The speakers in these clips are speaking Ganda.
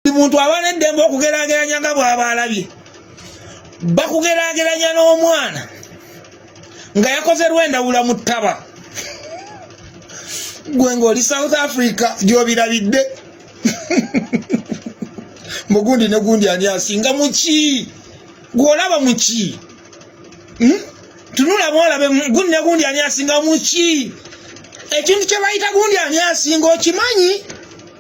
buli muntu aba n'eddembe okugerageranya nga bw'aba alabye bakugerageranya n'omwana nga yakoze lwendawula mu ttaba gwe ng'oli south africa gy'obirabidde mugundi ne gundi ani asinga muki gw'olaba muki hmm? tunula bwolabe gundi ne gundi ani asinga muki ekintu kye bayita gundi ani asinga okimanyi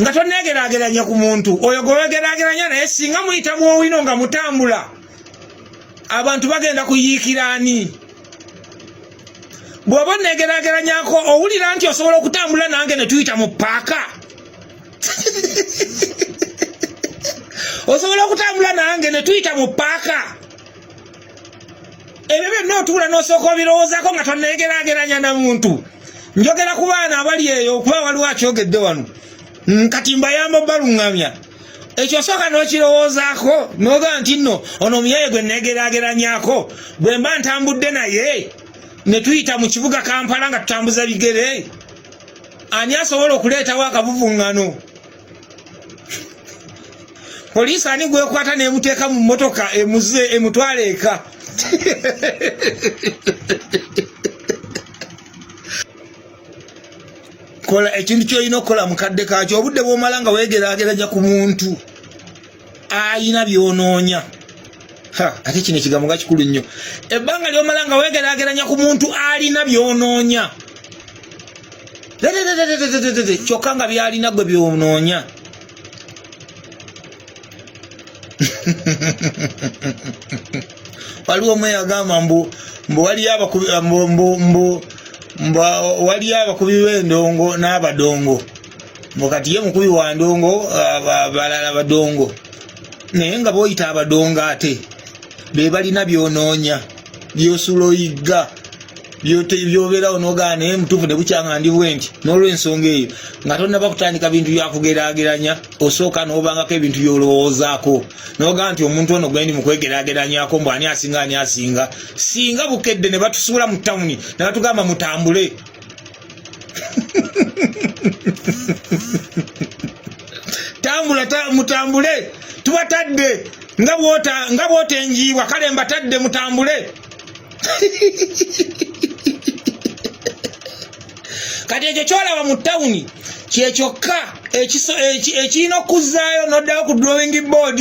nga tonneegeraageranya ku muntu oyo gwewegeraageranya naye singa muyita mu owino nga mutambula abantu bagenda kuyiikira ani bw'oba onneegeraageranyako owulira nti osobola okutambula nange ne tuyita mu paaka osobola okutambula nange ne tuyita mu paaka ebyo byonna otuula n'osooka obirowoozako nga tonneegeraageranya na muntu njogera ku baana abali eyo okuba waliwo akyogedde wano mm, kati mbayamba obaluŋŋamya ekyo osooka n'okirowoozaako n'ogaa nti nno ono omuyaye gwe nneegeraageranyako bwe mba ntambudde naye ne tuyita mu kibuga kampala nga tutambuza bigere ani asobola okuleetawo akavuvuŋŋano poliisi ani gwekwata nemuteeka mu motoka emuze emutwala eka kola ekintu kyolina okukola mukadde kakyo obudde bwomala nga wegerageranya ku muntu ayina byonoonya ate kino ekigambo nga kikulu nnyo ebbanga lyomala nga wegerageranya ku muntu alina byonoonya kyokka nga byalina gwe byonoonya waliwo omu eyagamba mbu mbu waliyo abakubi mbu mbu mbu waliyo abakubi b'endongo n'abadongo mukati ye mukubi wa ndongo balala badongo naye nga boyita abadongo ate bebalina byonoonya byosula oyigga byobeerawo nogaa naye mutuufu ne bukyanga ndi bwenti n'olwensonga eyo nga tonnaba kutandika bintu byakugeraageranya osooka n'obangako ebintu byolowoozaako nogaa nti omuntu ono gwendi mukwegerageranyako mbu ani asinga ani asinga singa bukedde ne batusuula mu tawuni ne batugamba mutambule tambula ta, mutambule tubatadde nga bwota nga bwota enjiibwa kale mbatadde mutambule kati ekyo kyolaba mu tawuni kyekyokka ekirina okuzzaayo noddayo ku drawing board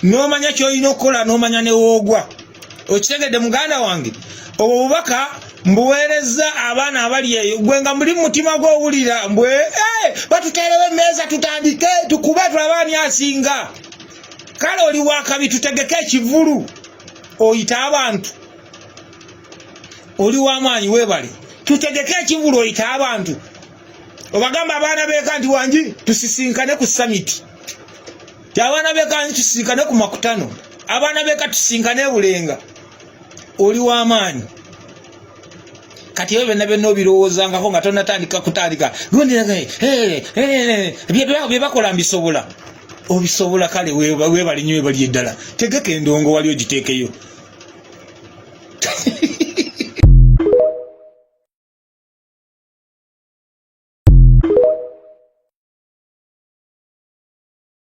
n'omanya kyolina okukola n'omanya newoogwa okitegedde muganda wange obwo bubaka mbuweerezza abaana abali eyo gwe nga muli mumutima gwowulira mbwe eh, batuteerewo emmeeza tutandike tukube tulabe ani asinga kale oli wakabi tutegeke ekivulu oyita abantu oli wamaanyi webale tutegeke ekivulu oyita abantu obagamba abaana beeka nti wangi tusisinkane ku samiti ti abaana bekaani tusinkane ku makutano abaana beka tusinkane ebulenga oli wamaanyi kati ebyo byonna byonna obirowoozangako nga tonatandika kutandika byebakola mbisobola obisobola kale webali nyo webali eddala tegeka endongo wali ogiteekeyo